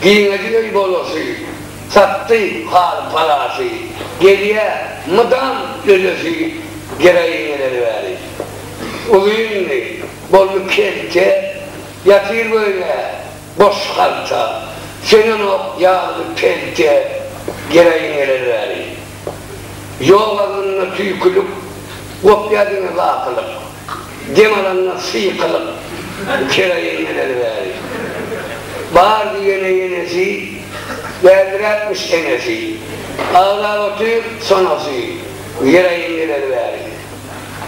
Giňedi öý bolasy, Satdy haly palasy, Gelýä mydam ölesi, Geraýingeleri wäli. Uzyndy, boldy kelte, Ýatyr göýnä, boş halta, Söňenok ýagly pelte, Geraýingeleri wäli. Ýok aglynda tüýkülik, Gopýa diňe bakylyk. Dem alanlar syýkalyp, kera inmeleri bäri. Bar diýene ýenesi, Bäldiräpmiş enesi. Aglap otyr sonasy, Ýere inmeleri bäri.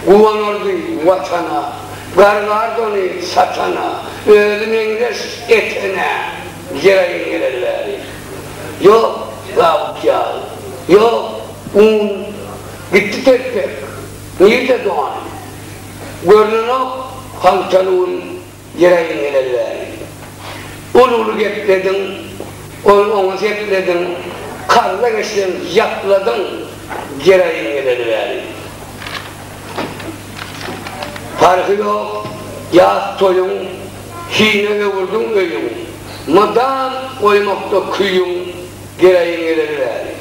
Guwanardy Watana, Gargardy ony satana, Özi meňzeş etene, Ýere inmeleri bäri. Ýok, Dawut ýaly, ýok, un, Gitdi telpek. Nirde doganym? Görnenok haltaly gün Ýereýin geleli bäri. Uly-uly geplediň, ol oňa seplediň, Karla geçseň ýapladyň Ýereýin geleli bäri. Parhy ýok ýas toýuň, Hine öwürdiň öýüň, Mydam goýmakda küýüň Ýereýin geleli bäri.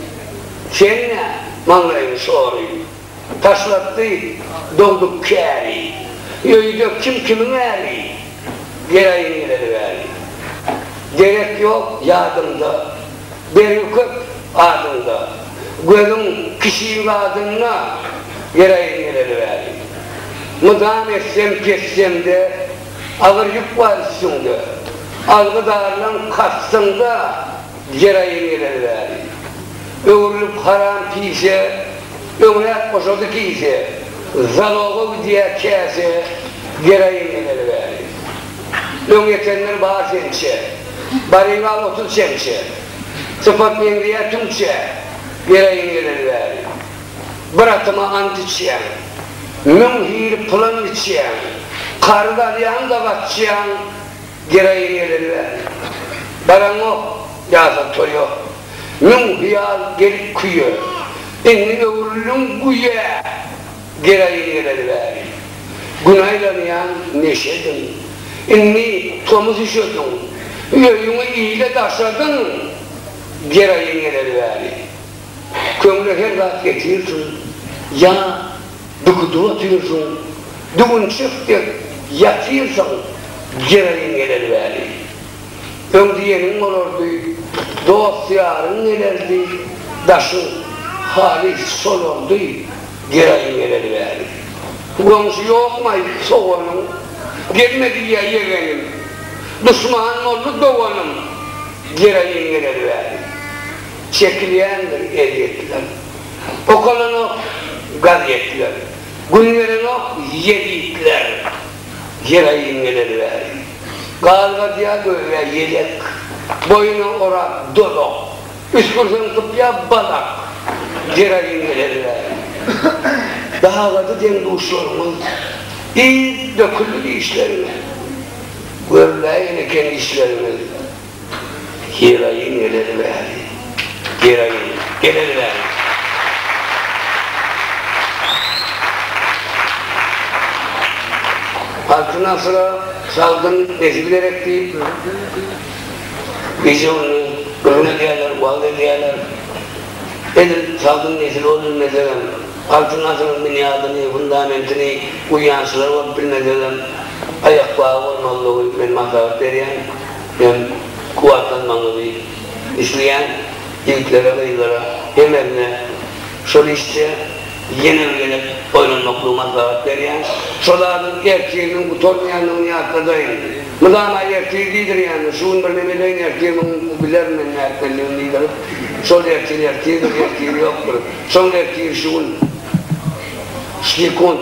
Sen-ä, maňlaýyň şory. Taşlatdy dogduk käri. Öýde kim kimiň äri. Gelaýyn geleli bäri. Derek ýok ýadymda. Bergi köp adyňda. Gözüň kişiň zadynda. Gelaýyn geleli bäri. Mydam essem pessemde. Agyr ýük bar üstüňde. Algydarlaň kastyňda. Ýer aýyň geleli bäri. Öwrülip haram pise, Öňräk goşady kise, Zaloga gidýä käse, Ýer aýyň geleli bäri. Öň ýetenler bar sençe, Baryp al otuz çemçe, Sypat meňzeýä tüňçe, Ýer aýyň geleli bäri. Bir atyma ant içýäň, Müň hili pylan biçýäň, Karyz alýaň-da gaçýaň, Gereýi geleli bäri. Baraňok, ýasan toý ýok. Müň hyýal gelip küýe. Indi öwrüldiň güýe. Gereýi geleli bäri. Gün aýlanýaň neşediň. Indi tomus üşediň. Öýüňi ile daşadyň. Gereýi geleli bäri. Köňle her zat getirsin. Ýa Dükuda otyrsyn, düwünçek dek ýatyrsyň, Jeraýyň geler weli. Öň diýeniň bolardy, Dost-ýaryň gelerdi, Daşyň halys solardy, Jeraýyň geler weli. Goňşy ýokmaý soganyň, Gelme diýýä ýegenim, Duşman boldy doganym, Jeraýyň geler weli. Çekilýändir ezýetler. Okalanok gazetler, gün gelenok ýezitler. Ýylaýyn geleli bäri. Galgadýa göwä ýelek, boýuna orap dolak, üsgürseň sypýa balak. Ýylaýyn geleli bäri. Dagady deň-duşlaryňyz, yz döküldi dişleriňe. Görüläýen eken işleriňiz. Heroin geleli bäri. Heroin geleli bäri. Altyn asyra sagdyn nesil gerek diýip, gije-gündiz gürrüň edýärler, wagyz edýärler. Edil sagdyn nesil bolup bilmesegem, altyn asyryň binýadyny, fundamentini guýýançylar bolup bilmesegem, aýakbagy bolmalydygy men maslahat berýän. Men kuwwatlanmagyňyzy isleýän ýigitlere, gyzlara hemesine şol işje ýene bir gezek oýlanmaklygy maslahat berýän. Şo zadyň ertiriniň gutarmaýandygyny ýatladaýyň. Mydama ertir diýdirýäňiz, şu gün birneme edeýin ertiriň bilerin men nätmelidigini diýdirip, şol ertir ertirdir, ertiri ýokdur. Soň ertir şu gün. Sekunt.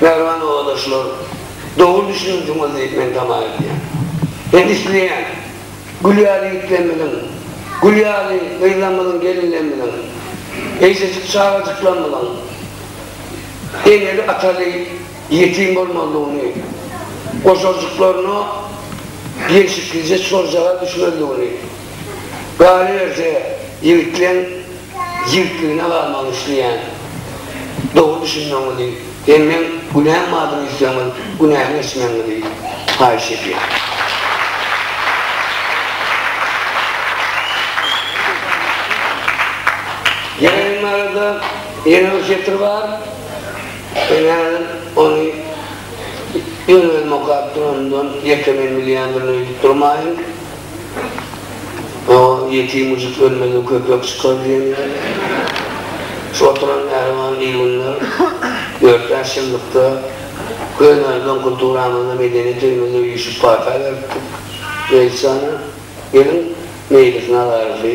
Merwan obadaşlar dogry düşüniňziňiz diýip men tama edýän. Hem isleýän Gül ýaly ýigitlerimiziň, Gül ýaly gyzlarymyzyň, gelinlerimiziň, eýjejik çagajyklarymyzyň eneli ataly ýetim bolmazlygyny, goşarjyklaryna gelşiklije çorjaga düşmezligini, galyberse ýigitleň Ýigitligine galmagyny isleýän. Dogry düşünmegiňizi hem meň günäm bardygyny aýtsaňyz, günämi geçmegiňizi haýyş edýän. Ýaýraýmaga-da ýene bir setir bar. Men häzir ony öz-özüme okap duranymdan ýeke men bilýändirin öýdüp durmaýyn. O ýetim müjük ölmese köpek çykar diýen ýaly. Şu oturan mähriban il günler dört bäş ýyllykda könämizden, kulturamyzdan, medeniýet öýümizde üýşüp pata beripdik. Mejlisana geliň, Meýlis Nazarowy,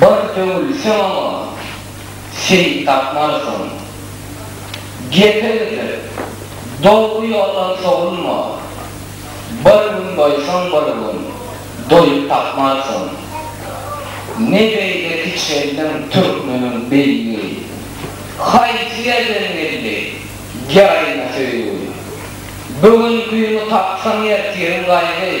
Bir döwülseň-oňa, sen tapmarsyň. Gepe gidip, dogry ýoldan sowulma, Bir gün doýsaň bir gün, doýup tapmarsyň. Ne beýle kiçeldiň türkmeniň beýigi, Haýsy ýerden geldi geraýna söýgi? Bu gün güni tapsaň ertiriň gaýgy.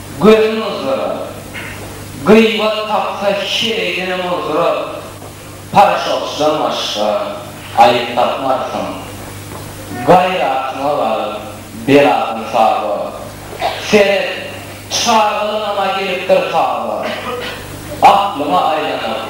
Gözün ozdurar. Gyýbat tapsa heleýdenem ozdurar. Paraşokçydan başga aýyp tapmarsyň. Gaýratyňa galyp, beladan saba. Seret, çagalygyňam-a gelipdir taba. Aklyňa aýlanyp.